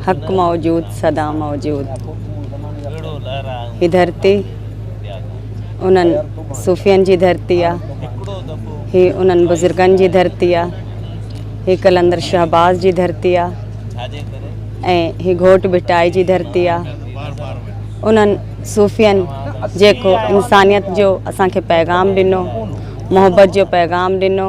حق موجود سدا موجود هي ڌرتي انهن صوفين جي ڌرتي آهي هي انهن بزرگن جي ڌرتي آهي هي قلندر شهباز جي ڌرتي آهي ۽ هي گهوٽ ڀٽائي جي ڌرتي آهي انهن صوفين جيڪو انسانيت جو اسانکي پيغام ڏنو محبت جو پيغام ڏنو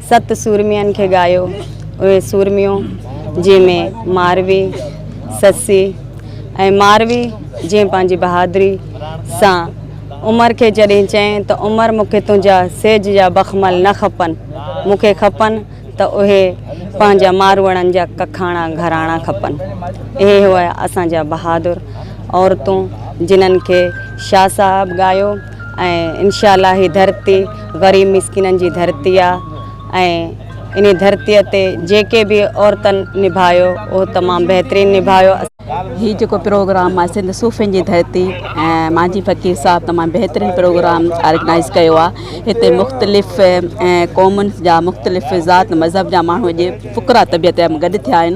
ست سورمين کي ڳايو اهي سورميون جنهن ۾ ماروي، سسي ۽ ماروي جنهن پنهنجي بهادري سان عمر کي جڏهن چين ته عمر مون کي تنهنجا سيج جا بخمل نه کپن مون کي کپن ته اهي پنهنجا ماروئڙن جا ڪکاڻا گهراڻا کپن اهي هئا اسان جا بهادر عورتون جنهن کي شاهه صاحب ڳايو. ۽ انشاء الله هي ڌرتي غريب مسڪينن جي ڌرتي آ ۽ ان ڌرتي تي جيڪي به عورتن نڀايو اهو تمام بهترين نڀايو. هي جيڪو پروگرام آهي سنڌ صوفين جي ڌرتي ۽ مانجهي فقير صاحب تمام بهترين پروگرام آرگنائز ڪيو آ هتي مختلف قومن جا مختلف ذات مذهب جا ماڻهو اڄ فقرا طبيعت جا گڏ ٿيا آهن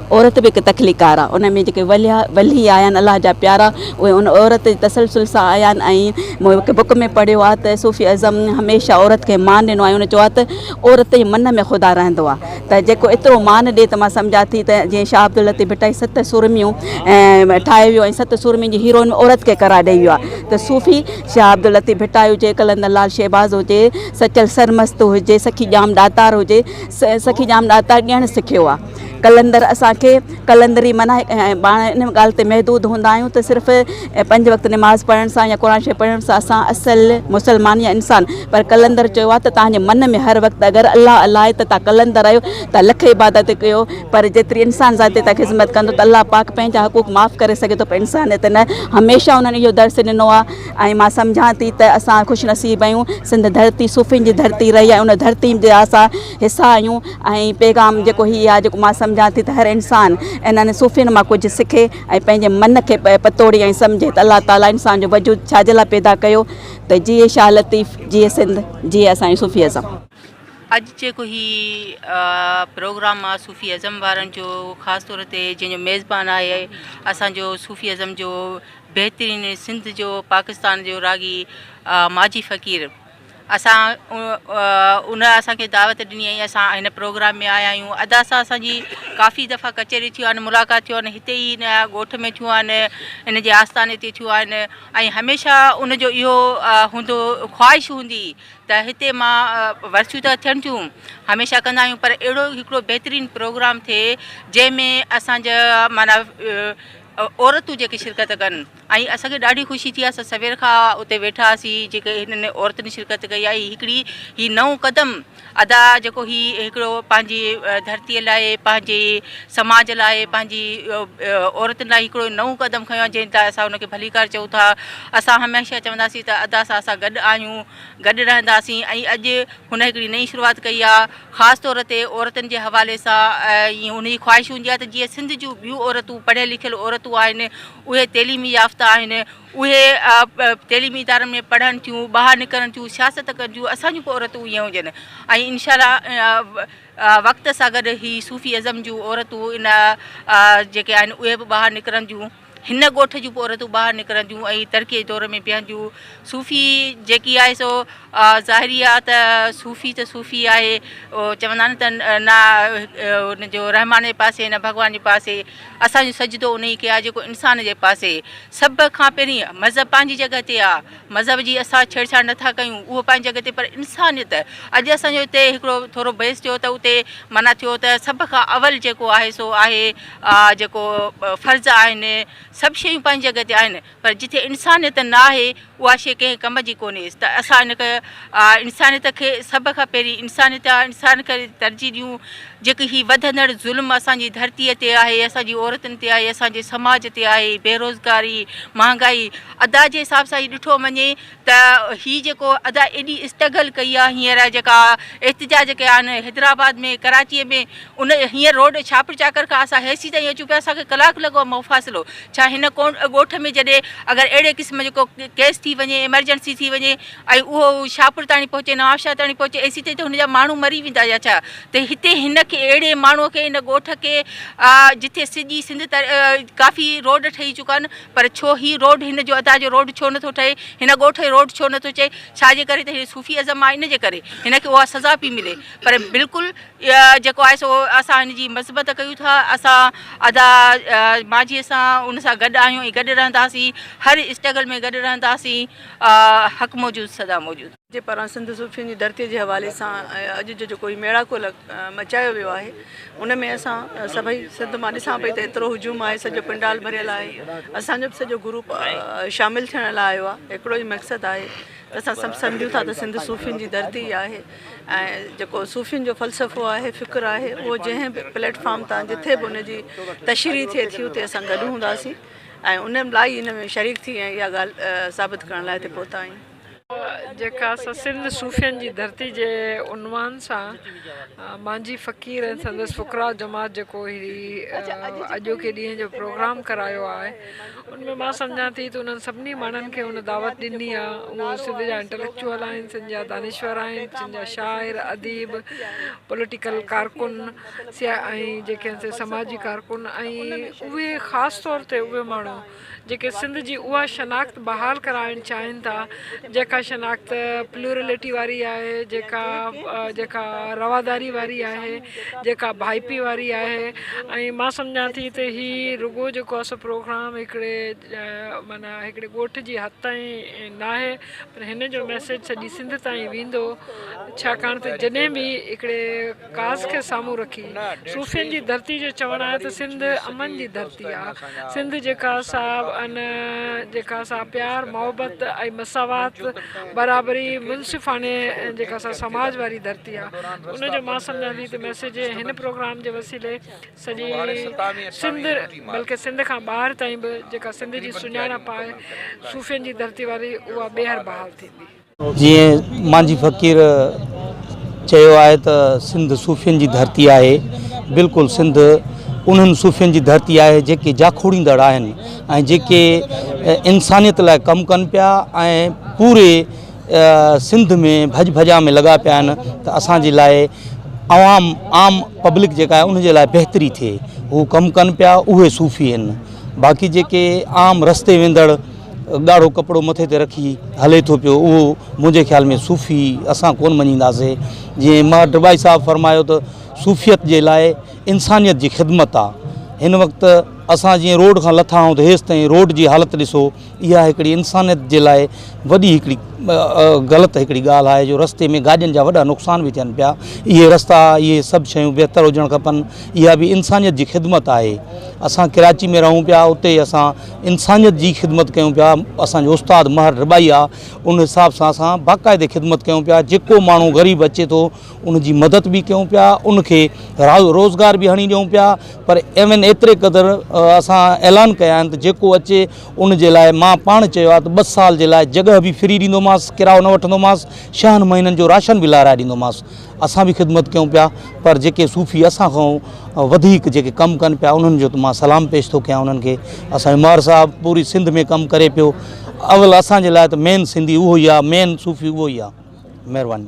عورت به هڪ تخليقڪار آ ان ۾ جيڪي وليا ولي آيا آهن الله جا پيارا اهي ان عورت جي تسلسل سان آيا آهن ۽ مون هڪ بڪ ۾ پڙهيو آ ته صوفي اعظم هميشه عورت کي مان ڏنو آ ان چيو آ ته عورت جي من ۾ خدا رهندو آ ته جيڪو ايترو مان ڏي ته مان سمجهان ٿي ته جيئن شاهه عبداللطيف ڀٽائي ست سورميون ٺاهي ويو ۽ ست سورمين جي هيروئن عورت کي قرار ڏئي ويو آ ته صوفي شاهه عبداللطيف ڀٽائي هجي قلندر لال شهباز هجي سچل سرمست هجي سخي ڄام ڏاتار هجي سخي ڄام ڏاتار ڏيڻ سکيو آ قلندر اسان کي قلندري معنيٰ ۽ پاڻ ان ڳالهه تي محدود هوندا آهيون ته صرف پنج وقت نماز پڙهڻ سان يا قرآن شريف پڙهڻ سان اسان اصل مسلمان يا انسان پر قلندر چيو آهي ته توهان جي من ۾ هر وقت اگر الله الله آهي ته توهان قلندر آهيو توهان لک عبادت ڪيو پر جيتري انسان ذاتي توهان خدمت ڪندو ته الله پاڪ پنهنجا حقوق معاف ڪري سگهي ٿو پر انسانيت نه هميشه انهن اهو درس ڏنو آهي ۽ مان سمجهان ٿي ته اسان خوش نصيب آهيون سنڌ ڌرتي صوفين جي ڌرتي رهي آهي ان ڌرتي جا اسان حصا آهيون ۽ پيغام جيڪو هي آهي جيڪو مان سمجهان ٿي ته هر انسان انهن صوفين مان ڪجهه سکي ۽ پنهنجي من کي پتوڙي ۽ سمجهي ته الله تعالي انسان جو وجود ڇا جي لاء پيدا ڪيو ته جيئي شاهه لطيف جيئي سنڌ جيئي اسان جو صوفي ازم. اڄ جيڪو هي پروگرام آهي صوفي ازم وارن جو خاص طور تي جنهن جو ميزبان آهي اسان جو صوفي ازم جو بهترين سنڌ جو پاڪستان جو راڳي ماجي فقير اسان ان اسان کي دعوت ڏني ۽ اسان هن پروگرام ۾ آيا آهيون ادا سان اسان جي ڪافي دفعا ڪچهري ٿيون آهن ملاقات ٿيون آهن هتي ئي هن ڳوٺ ۾ ٿيون آهن هن جي آستاني تي ٿيون آهن ۽ هميشه ان جو اهو هوندو خواهش هوندي ته هتي مان ورسيون ته ٿين ٿيون هميشه ڪندا آهيون پر اهڙو هڪڙو بهترين پروگرام ٿئي جنهن ۾ اسان جا معنيٰ عورتون جيڪي شرڪت ڪن ۽ اسان کي ڏاڍي خوشي ٿي اسان سوير کان اتي ويٺا هئاسين جيڪي هنن عورتن شرڪت ڪئي آهي هڪڙي هي نئون قدم ادا جيڪو هي هڪڙو پنهنجي ڌرتي لاء پنهنجي سماج لاء پنهنجي عورتن لاء هڪڙو نئون قدم کنيو آهي جنهن لاء اسان ان کي ڀليڪار چئون ٿا اسان هميشه چونداسين ته ادا سان اسان گڏ آهيون گڏ رهنداسين ۽ اڄ هن هڪڙي نئين شروعات ڪئي آهي خاص طور تي عورتن جي حوالي سان ۽ ان جي خواهش هوندي آهي ته جيئن سنڌ جون ٻيون عورتون پڙهيل لکيل عورتون آهن اهي تعليمي يافته آهن، اهي تعليمي ادارن ۾ پڙهن ٿيون، ٻاهر نڪرن ٿيون، سياست ڪن ٿيون، اسان جون به عورتون ائين هجن ۽ انشاء الله وقت سان گڏ هي صوفي ازم جون عورتون ان جيڪي آهن اهي به ٻاهر نڪرنديون، هن ڳوٺ جون به عورتون ٻاهر نڪرنديون ۽ ترقيء جي دور ۾ بيهنديون. صوفي جيڪي آهي سو ظاهري آهي ته صوفي ته صوفي آهي، چوندا آهن ته نه ان جو رحمان جي پاسي نه ڀڳوان جي پاسي، اسان جو سجدو انهي کي آهي جيڪو انسان جي پاسي سڀ کان پهرين مذهب پنهنجي جڳهه تي آ مذهب جي اسان ڇيڙ ڇاڙ نه ٿا ڪيون اهو پنهنجي جڳهه تي پر انسانيت اڄ اسان جو اتي هڪڙو ٿورو بحث ٿيو ته اتي معنيٰ ٿيو ته سڀ کان اول جيڪو آهي سو آهي آ جيڪو فرض آهن سڀ شيون پنهنجي جڳهه تي آهن پر جتي انسانيت نه آهي، اها شيء ڪنهن ڪم جي ڪونهي. ته اسان ان انسانيت کي سڀ کان پهرين انسانيت يا انسان کي ترجيح ڏيون، جيڪي هي وڌندڙ ظلم اسان جي ڌرتيء تي آهي، اسان جي عورتن تي آهي، اسان جي سماج تي آهي، بيروزگاري، مهانگائي، ادا جي حساب سان هي ڏٺو وڃي ته هي جيڪو ادا ايڏي اسٽگل ڪئي آ هينئر جيڪا احتجاج ڪيا آهن حيدرآباد ۾ ڪراچيء ۾ ان هينئر روڊ ڇاپر چاڪر کان اسان هيسي تائين اچون پيا اسان کي ڪلاڪ لڳو آ مفاصلو ڇا هن ڳوٺ ۾ جڏهن اگر اهڙي قسم جو ڪو ڪيس ٿي وڃي ايمرجنسي ٿي وڃي ۽ اهو شاهپور تائين پهچي نوابشاهه تائين پهچي ايسي تائين ته هن جا ماڻهو مري ويندا يا ڇا ته هتي هن کي اهڙي ماڻهو کي هن ڳوٺ کي جتي سڄي سنڌ ڪافي روڊ ٺهي چڪا آهن پر ڇو هي روڊ هن جو ادا جو روڊ ڇو نٿو ٺهي هن ڳوٺ جو روڊ ڇو نٿو چئي ڇا جي ڪري ته هي صوفي ازم آهي ان جي ڪري هن کي اها سزا پي ملي پر بلڪل جيڪو آهي سو اسان هن جي مثبت ڪيون ٿا اسان ادا ماجهي سان ان سان گڏ آهيون ۽ گڏ رهنداسين هر اسٽرگل ۾ گڏ رهنداسين حق موجود سدا موجود جي پاران سنڌ صوفين جي ڌرتي جي حوالي سان اڄ جو جيڪو هي ميڙاڪو مچايو ويو آهي ان ۾ اسان سڀئي سنڌ مان ڏسان پئي ته ايترو هجوم آهي سڄو پنڊال ڀريل آهي اسانجو به سڄو گروپ شامل ٿيڻ لاء آيو آهي هڪڙو ئي مقصد آهي ته اسان سڀ سمجهون ٿا ته سنڌ صوفين جي ڌرتي آهي ۽ جيڪو صوفين جو فلسفو آهي فڪر آهي اهو جنهن به پليٽ فارم تان جٿي به ان جي تشريح ٿئي ٿي اتي اسان گڏ هونداسين ۽ ان لاء ان ۾ شريڪ ٿي ۽ اها ڳالهه ثابت ڪرڻ لاء هتي پهتا آهيون جيڪا اسان سنڌ صوفين جي ڌرتي جي عنوان سان مانجهي فقير ۽ سندس فقراء جماعت جيڪو هي اڄوڪي ڏينهن جو پروگرام ڪرايو آهي ان ۾ مان سمجهان ٿي ته انهن سڀني ماڻهن کي ان دعوت ڏني آ اهو سنڌ جا انٽليڪچوئل آهن سنڌ جا دانشور آهن سنڌ جا شاعر اديب پوليٽيڪل ڪارڪن ۽ جيڪي سماجي ڪارڪن ۽ اهي خاص طور تي اهي ماڻهو جيڪي سنڌ جي اها شناخت بحال ڪرائڻ چاهين ٿا جيڪا شناخت پلورلٽي واري آهي جيڪا جيڪا رواداري واري آهي جيڪا ڀائپي واري آهي ۽ مان سمجهان ٿي ته هي رڳو جيڪو اسو پروگرام هڪڙي معنيٰ هڪڙي ڳوٺ جي حد تائين ناهي پر هن جو ميسيج سڄي سنڌ تائين ويندو ڇاڪاڻ ته جڏهن به هڪڙي ڪاس کي سامهون رکي صوفين جي ڌرتي جو چوڻ آهي ته سنڌ امن جي ڌرتي آ. سنڌ جيڪا سا ان جيڪا سا پيار محبت ۽ مساوات برابري منصفاڻي جيڪا سا سماج واري ڌرتي آ ان جو مان سمجهان ٿي ته ميسيج هن پروگرام جي وسيلي سڄي سنڌ بلڪه سنڌ کان ٻاهر تائين به جيڪا سنڌ جي سڃاڻپ آهي صوفين جي ڌرتي واري اها ٻيهر بحال ٿيندي. جيئن مانجهي فقير چيو آهي ته سنڌ صوفين جي ڌرتي آهي بلڪل سنڌ انهن صوفين جي ڌرتي آهي جيڪي جاکوڙيندڙ آهن ۽ جيڪي انسانيت لاء ڪم ڪن پيا ۽ پوري سنڌ ۾ ڀڄ ڀڄان ۾ لڳا پيا آهن ته اسان جي لاء عوام عام پبلڪ جيڪا آهي ان جي لاء بهتري ٿئي هو ڪم ڪن پيا اهي صوفي آهن باقي جيڪي عام رستي ويندڙ ڳاڙهو ڪپڙو مٿي تي رکي هلي ٿو پيو اهو منهنجي خيال ۾ صوفي اسان ڪون مڃينداسي جي ماهر ڊبائي صاحب فرمايو ته صوفيت جي لاء انسانيت جي خدمت آ هن وقت اسان جي روڊ کان لٿا آهون ته هيس تائين روڊ جي حالت ڏسو اها هڪڙي انسانيت جي لاء وڏي هڪڙي غلط هڪڙي ڳالهه آهي جو رستي ۾ گاڏين جا وڏا نقصان به ٿين پيا اهي رستا اهي سڀ شيون بهتر هجڻ کپن اها به انسانيت جي خدمت آهي اسان ڪراچي ۾ رهون پيا اتي اسان انسانيت جي خدمت ڪيون پيا اسان جو استاد مهر رباعي آ ان حساب سان اسان باقاعدي خدمت ڪيون پيا جيڪو ماڻهو غريب اچي ٿو ان جي مدد به ڪيون پيا ان کي روزگار به هڻي ڏيون پيا پر ايون ايتري قدر اسان اعلان ڪيا آهن ته جيڪو اچي ان جي لاء مان پاڻ چيو آ ته ٻه سال جي لاء جڳهه به فري ڏيندومانس ڪرايو نه وٺندومانس شهن مهينن جو راشن به لارائي ڏيندومانس اسان به خدمت ڪيون پيا پر جيڪي صوفي اسان کان وڌيڪ جيڪي ڪم ڪن پيا انهن جو ته مان سلام پيش ٿو ڪيان انهن کي اسان عمار صاحب پوري سنڌ ۾ ڪم ڪري پيو اول اسان جي لاء ته مين سنڌي اهو ئي آهي مين صوفي اهو ئي آهي مهرباني